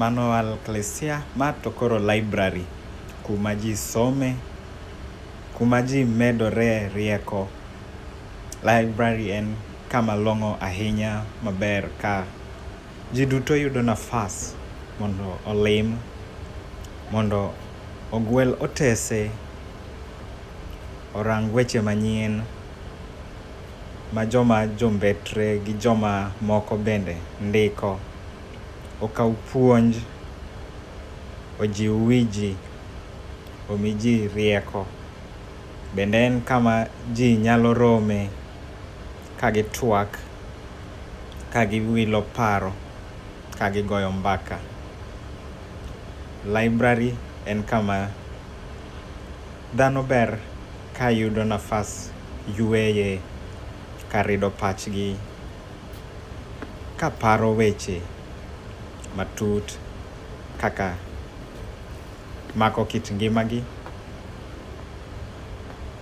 Mano alklesia, ma to koro library kuma ji some, kuma ji medore rieko. Library en kama long'o ahinya maber ka ji duto yudo nafas mondo olim, mondo ogwel otese, orang weche manyien. ma joma jombetre gi joma moko bende ndiko, okaw puonj, ojiw wi ji, omi ji rieko, bende en kama ji nyalo rome ka gitwak, ka giwilo paro, ka gigoyo mbaka. Laibrari en kama Dhano ber ka yudo nafas yueye kar rido pachgi ka paro weche matut kaka mako kit ngimagi.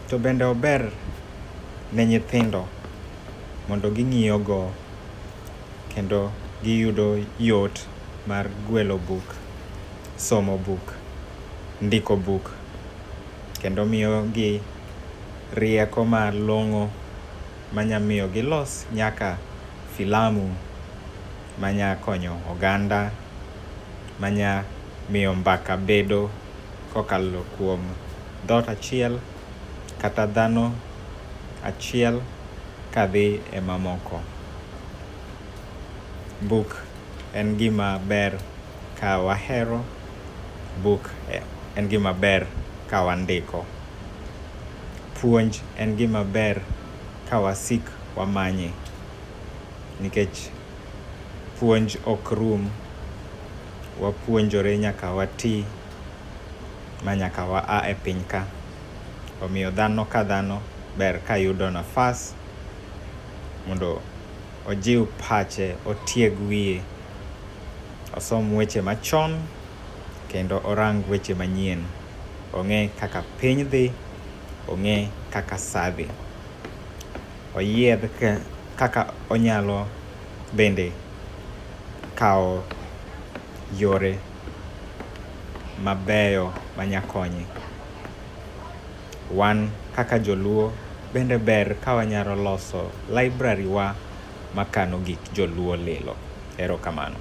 To bende ober ne nyithindo mondo ging'iyogo kendo giyudo yot mar gwelo buk, somo buk, ndiko buk. kendo miyogi rieko malong'o manya miyo gilos nyaka filamu manya konyo oganda, manya miyo mbaka bedo kokalo kuom dhoot achiel kata dhano achiel kadhi e mamoko. Buk en gima ber. Ka wahero buk en gima ber ka wandiko. Puonj en gima ber ka wasik wamanye nikech puonj ok rum, wapuonjore nyaka wati ma nyaka wa a e piny ka. Omiyo dhano ka dhano ber ka yudo nafas mondo ojiw pache, otieg wiye. osom weche machon kendo orang weche manyien. Ong'e kaka piny dhi, ong'e kaka sa dhi. Oyiedh kaka onyalo bende kawo yore mabeyo manyakonye. Wan kaka joluo bende ber ka wanyalo loso library wa makano gik joluo lilo. Erokamano.